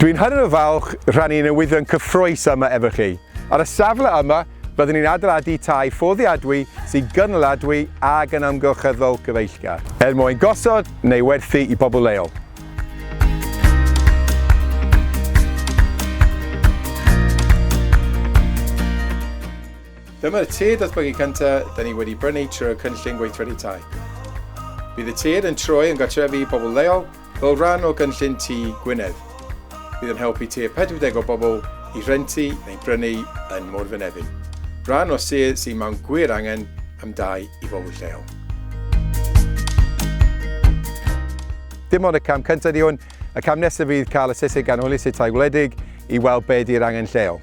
Dwi'n hynod o falch rhannu newyddion cyffrous yma efo chi. Ar y safle yma, byddwn ni'n adeiladu tai fforddiadwy sy'n gynaliadwy ac yn amgylcheddol gyfeillgar. Er mwyn gosod neu werthu i bobl leol. Dyma'r tir datblygu cyntaf da ni wedi brynu trwy'r cynllun gweithredu tai. Bydd y tir yn troi yn gartrefi i bobl leol Fel rhan o gynllun Tŷ Gwynedd, bydd yn helpu tua 40 o bobl i rentu neu brynu yn Môr Fynefin, rhan o sir sydd mewn gwir angen am dai i bobl lleol. Dim ond y cam cyntaf ydy hwn, y cam nesaf fydd cael y Saesneg Ganolus i'r Tai Gwledig i weld be ydy'r angen lleol.